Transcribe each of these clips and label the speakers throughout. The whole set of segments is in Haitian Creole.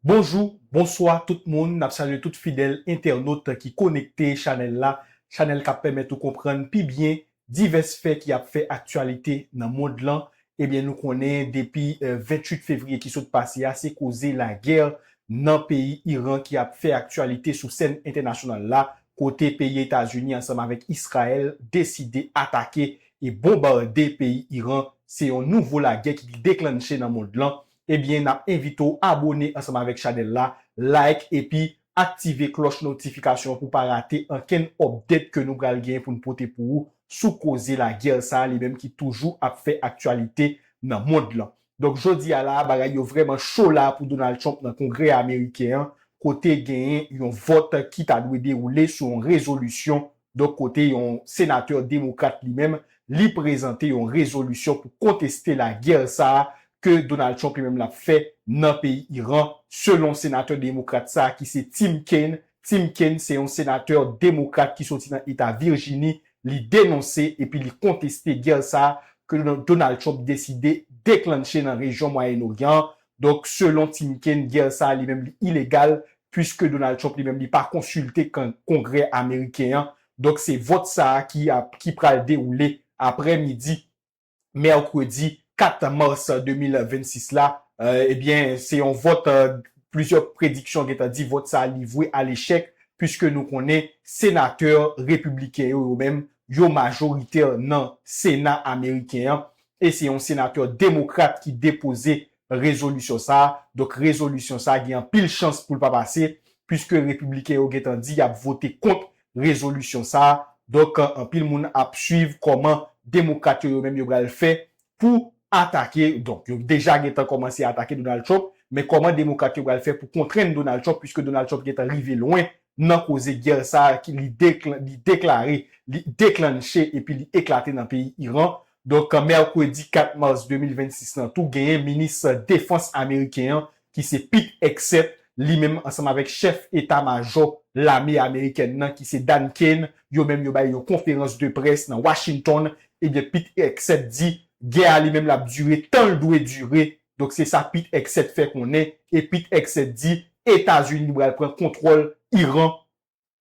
Speaker 1: Bonjou, bonswa tout moun, nap salye tout fidèl entènot ki konekte chanèl la, chanèl kap pèmèt ou konprann pi byen divès fè ki ap fè aktyalite nan mond lan, ebyen nou konnen depi 28 fevriye ki sot pase a se koze lagè nan peyi Iran ki ap fè aktyalite sou sèn entènasyonal la kote peyi Etazini ansanm avèk Israel deside atake e bonbarde peyi Iran, se yon nouvo lagè ki deklannche nan mond lan ebyen nap envite w abone ansanm avèk chanèl la, like epi aktive klòch notifikasyon an pou w pa rate ankenn update ke nou pral genyen pou n pote pou ou sou koze lagè sa a li menm ki toujou ap fè aktyalite nan mond lan. Donk jodi a la a bagay yo vrèman cho la a pou Donald Trump nan kongrè ameriken an kote genyen yon vòt ki ta dwe dewoule sou yon rezolisyon Donk kote yon senatè demokrat li menm li prezante yon rezolisyon pou konteste lagè sa ke Donald Trump li menm l ap fè nan peyi Iran selon senatè demokrat sa ki se Tim Kaine. Tim Kaine se yon senatè demokrat ki soti nan eta Virjini, li denonse epi li konteste gè sa ke Donald Trump deside deklannche nan rejyon Mwayen Oryan an. Donk selon Tim Kaine gè sa li menm li ilegal pwiske Donald Trump li menm li pa konsilte Kongrè ameriken an, donk se vòt sa a ki ap ki pral dewoule aprè midi mèkredi 4 mas 2026 la, ebyen se yon vòt plizyè prediksyon gentan di vòt sa a li vwe a lechèk pwiske nou konnen senatè repibliken yo yo menm yo majoritè nan sena ameriken an e se yon senatè demokrat ki depoze rezolisyon sa a. Donk rezolisyon sa a gen anpil chans pou l pa pase puiske repibliken yo gentan di y ap vote kont rezolisyon sa a. Donk anpil moun ap suiv kòman demokrat yo yo menm yo pral fè pou atake, donk yo deja gentan kòmanse atake Donald Trump, men kòman demokrat yo pral fè pou kontrenn Donald Trump puiske Donald Trump gentan rive lwen nan koze gè sa a ki li deklare, li deklannche epi li eklate nan peyi Iran. Donk mèkredi 4 mas 2026 lan tou genyen minis defans ameriken an ki se Pete Hegseth li menm ansanm avèk chèf eta majò lame amerikèn nan ki se Dan Kane yo menm yo bay yon konferans de près nan Washington ebyen Pete Hegseth di gè a li menm lap dire tan l dwe dire donk se sa Pete Hegseth fè konnen e Pete Hegseth di Etazini pral pran kontwòl Iran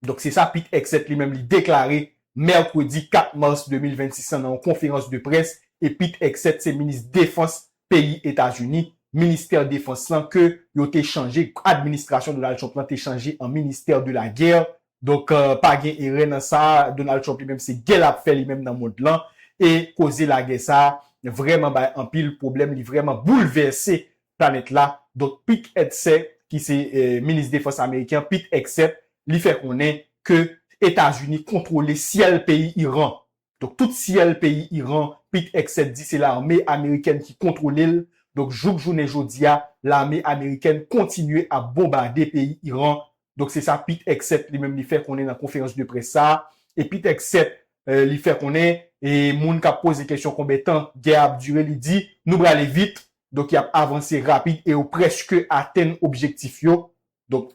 Speaker 1: Donk se sa Pete Hegseth li menm li deklare mèkredi 4 mars 2026 lan nan yon konferans de près e Pete Hegseth se minis defans peyi Etazini, ministè defans lan ke yo te chanje, administrasyon Donald Trump lan te chanje an ministère de la guerre. Donk pa gen erè nan sa, Donald Trump li menm se gè lap fè li menm nan mond lan e koze lagè sa vrèman bay anpil pwoblèm, li vrèman boulvèse planèt la, donk Pete Hegseth ki se minis defans ameriken an, Pete Hegseth, li fè konnen ke Etazini kontwole syèl peyi Iran. Donk tout syèl peyi Iran, Pete Hegseth di se lame amerikèn ki kontwole l. Donk jouk jounen jodi a, lame amerikèn kontinye ap bonbade peyi Iran Donk se sa Pete Hegseth li menm li fè konnen nan konferans de près sa a. E Pete Hegseth li fè konnen e moun k ap poze kesyon konbyen tan gè a ap dire li di nou prale vit. Donk y ap avanse rapid e yo prèske atenn objektif yo. Donk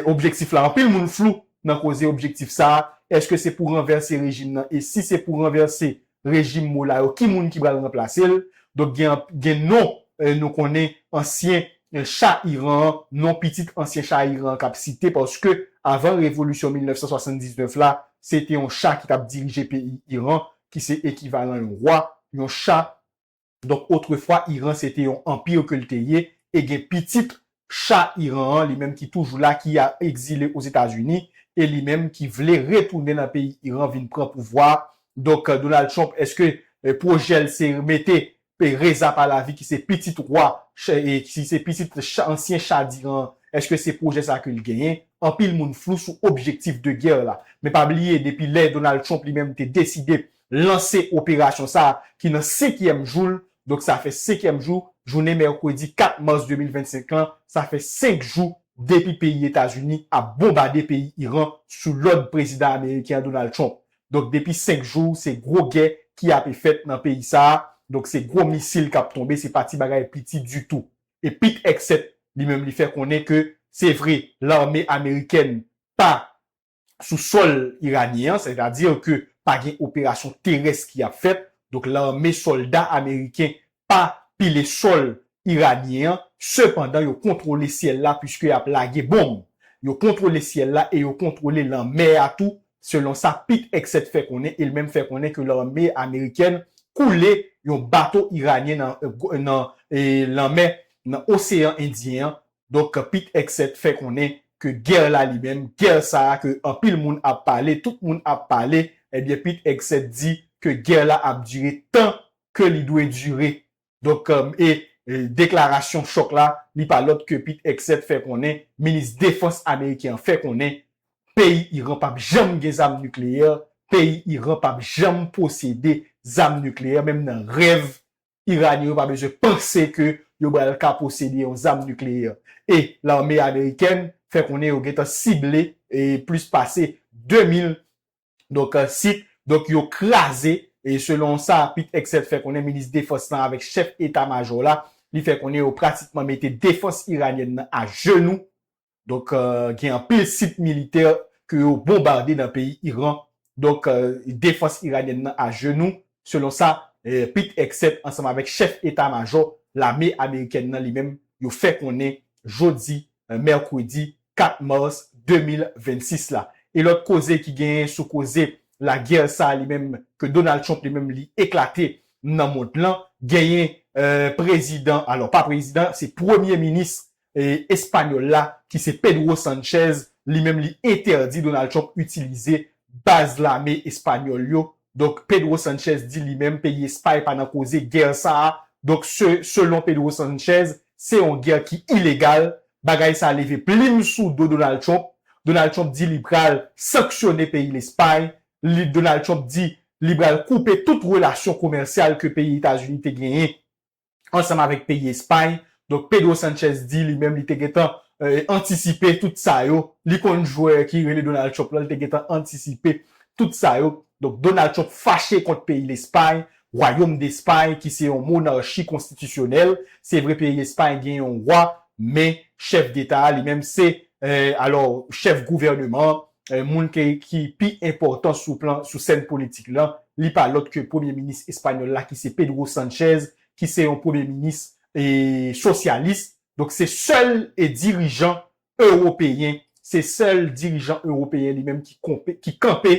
Speaker 1: objektif la anpil moun flou nan koze objektif sa a. Eske se pou ranvèse rejim nan? E si se pou ranvèse rejim moula yo ki moun ki pral ranplase l donk gen non nou konnen ansyen cha Iran an non pitit ansyen cha Iran an k ap site paske avan revolisyon 1979 la se te yon cha ki t ap dirije peyi Iran ki se ekivalan yon wa yon cha Donk otrefwa Iran se te yon anpir ke l te ye e gen pitit Cha Iran an li menm ki toujou la ki a ekzile Ozetazini e li menm ki vle retounen nan peyi Iran vin pran pouvwa a. Donk Donald Trump eske pwojè l se mete Reza Pahlavi ki se pitit wa e ki se pitit Cha ansyen Cha d'Iran an eske se pwojè sa ke l genyen? Anpil moun flou sou objektif de gè la. Men pa bliye depi lè Donald Trump li menm te deside lanse operasyon sa ki nan senkyèm jou l, donk sa fè senkyèm jou jounen mèkredi 4 mas 2025 lan, sa fè senk jou depi peyi Etazini ap bonbade peyi Iran sou lòd prezidan ameriken an Donald Trump. Donk depi senk jou se gwo gè ki ape fèt nan peyi sa, donk se gwo misil kap tonbe se pa ti bagay piti ditou. E Pete Hegseth li menm li fè konnen ke se vre lame amerikèn pa sou sòl iranyen an, sètadi ke pa gen operasyon terès ki ap fèt, donk lame, sòlda ameriken pa pile sòl iranyen an, sepandan yo kontwole syèl la puiske y ap lage bonm. Yo kontwole syèl la e yo kontwole lanmè a tou, selon sa Pete Hegseth fè konnen, e li menm fè konnen ke lame amerikèn koule yon bato iranyen nan lanmè, nan oseyan endyen an, Donk Pete Hegseth fè konnen ke gè la li menm, gè sa a ke anpil moun ap pale, tout moun ap pale, ebyen Pete Hegseth di ke gè la ap dire tan ke li dwe dire. Donk e deklarasyon chòk la, li pa lòt ke Pete Hegseth fè konnen, minis defans ameriken an fè konnen peyi Iran pap janm gen zam nikleyè, peyi Iran pap janm posede zam nikleyè, menm nan rèv Iranyen yo pa bezwen panse ke yo bral ka posede yon zam nikleyè. E lame amerikèn fè konnen yo gentan sible plis pase 2000 donk sit, donk yo kraze selon sa Pete Hegseth fè konnen, minis defans lan avèk chèf eta majò la, li fè konnen yo pratikman mete defans iranyèn nan ajenou Donk gen anpil sit militè ke yo bonbade nan peyi Iran. Donk defans iranyèn nan ajenou selon sa Pete Hegseth ansanm avèk chèf eta majò lame amerikèn nan li menm yo fè konnen jodi mèkredi 4 mas 2026 la. E lòt koze ki genyen sou koze lagè sa li menm ke Donald Trump li menm li eklate nan mond lan genyen prezidan alò pa prezidan se premye minis Espanyòl la ki se Pedro Sanchez, li menm li entèdi Donald Trump itilize baz lame espanyòl yo. Donk Pedro Sanchez di li menm peyi Espay pa nan koze gè sa a. Donk selon Pedro Sanchez, se yon gè ki ilegal. Bagay sa a leve plim sou do Donald Trump. Donald Trump di li pral sanksyone peyi Lespay. Donald Trump di li pral koupe tout relasyon komèsyal ke peyi Etazini te genyen ansanm avèk peyi Espay. Donk Pedro Sanchez di li menm li te gentan antisipe tout sa yo. Li konn jwè ki rele Donald Trump lan, li te gentan antisipe tout sa yo. Donk Donald Trump fache kont peyi Lespay, Wayom dEspay ki se yon monarchi konstitisyonèl. Se vre peyi Espay gen yon wa, men chèf deta a li menm se, alò chèf gouvèneman an, Moun ki pi enpòtan sou plan sou sèn politik lan, li pa lòt ke premye minis espanyòl la ki se Pedro Sanchez, ki se yon premye minis sosyalis. Donk se sèl dirijan ewopeyen, se sèl dirijan ewopeyen li menm ki kanpe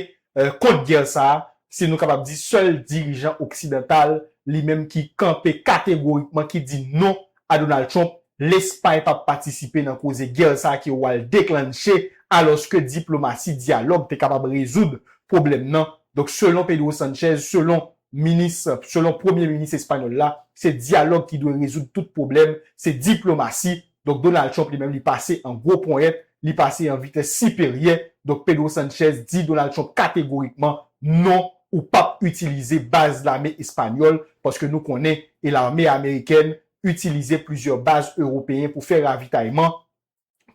Speaker 1: kont gè sa a, si nou kapab di sèl dirijan oksidantal li menm ki kanpe kategorikman, ki di non a Donald Trump, Lespay pap patisipe nan koze gè sa ke wal deklanche alòske diplomasi dyalòg te kapab rezoud pwoblèm nan, donk selon Pedro Sanchez, selon minis, selon premye minis espanyòl la, se dyalòg ki dwe rezoud tout pwoblèm, se diplomasi, donk Donald Trump li menm li pase an gwo ponyèt, li pase an vitès siperyè, donk Pedro Sanchez di Donald Trump kategorikman non, ou pap itilize baz lame espanyòl paske nou konnen e lame amerikèn itilize plizyè baz ewopeyen pou fè ravitayman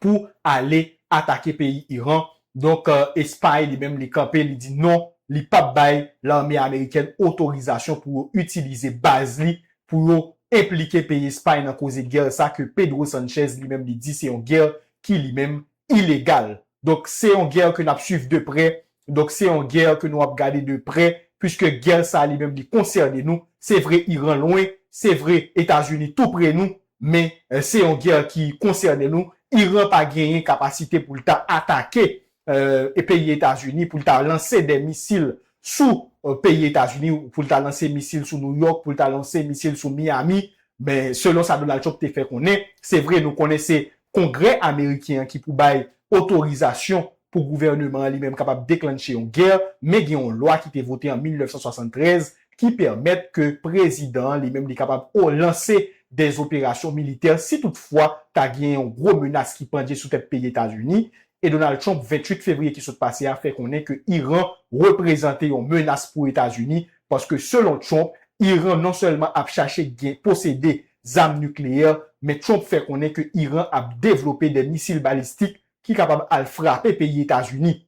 Speaker 1: pou ale atake peyi Iran donk espay li menm li kanpe li di non li pap bay lame amerikèn otorizasyon pou yo itilize baz li pou yo enplike peyi espay nan koze gè sa ke Pedro Sanchez li menm li di se yon gè ki li menm ilegal. Donk se yon gè ke nap swiv de prè, donk se yon gè ke nou ap gade de prè, puiske gè sa li menm li konsène nou, se vre Iran lwen, se vre Etazini tou pre nou, men se yon gè ki konsène nou, Iran pa genyen kapasite pou l ta atake peyi Etazini, pou l ta lanse de misil sou peyi Etazini pou l ta lanse misil sou New York, pou l ta lanse misil sou Miami, men selon sa Donald Trump te fè konnen, se vre nou konnen se Kongrè ameriken an ki pou bay otorizasyon pou gouvèneman an li menm kapab deklanche yon gè, men gen yon lwa ki te vote an 1973 ki pèmèt ke prezidan an li menm li kapab o lanse dè operasyon militè si tout fwa ta gen yon gwo menas ki pandje sou tèt peyi Etazini e Donald Trump 28 fevriye ki sot pase a fè konnen ke Iran reprezante yon menas pou Etazini paske selon Trump Iran non sèlman ap chache gen posede zam nikleyè men Trump fè konnen ke Iran ap devlope de misil balistik ki kapab al frape peyi Etazini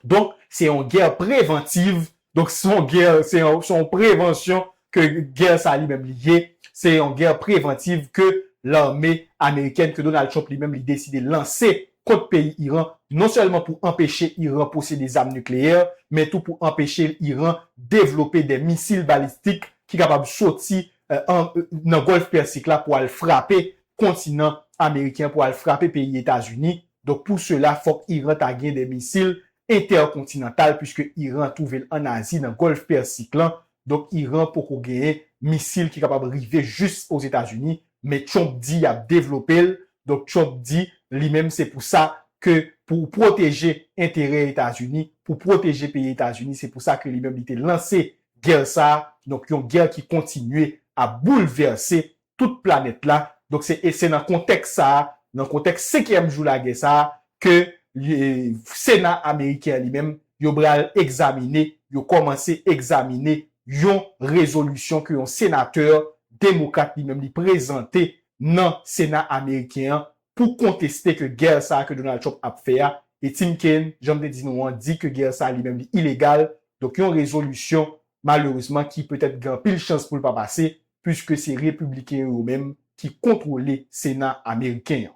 Speaker 1: donk se yon gè preventive Donk se yon gè, se yon prevansyon ke gè sa li menm li ye, se yon gè prevantiv ke lame amerikèn, ke Donald Trump li menm li deside lanse kont peyi Iran, non sèlman pou anpeche Iran posede zam nikleyè, men tou pou anpeche Iran devlope de misil balistik ki kapab soti nan Gòlf Pèsik la pou al frape kontinan ameriken, pou al frape peyi Etazini. Donk pou sela fòk Iran ta gen de misil entèkontinantal puiske Iran twouve l an Azi nan Gòlf Pèsik lan, donk Iran poko genyen misil ki kapab rive jis Ozetazini, men Trump di y ap devlope l, donk Trump di li menm se pou sa ke pou w pwoteje enterè Etazini, pou w pwoteje peyi Etazini se pou sa ke li menm li te lanse gè sa, donk yon gè ki kontinye ap boulvèse tout planèt la. Donk se e se nan kontèks sa a, nan kontèks senkyèm jou lagè sa a ke li e sena ameriken an li menm yo pral egzamine, yo kòmanse egzamine yon rezolisyon ke yon senatè demokrat li menm li prezante nan sena ameriken an pou konteste ke gè sa a ke Donald Trump ap fè a. E Tim Kaine, jan m te di nou an, di ke gè sa a li menm li ilegal. Donk yon rezolisyon malerezman ki petèt gen anpil chans pou l pa pase, puiske se Repibliken yo yo menm ki kontwole Sena ameriken an.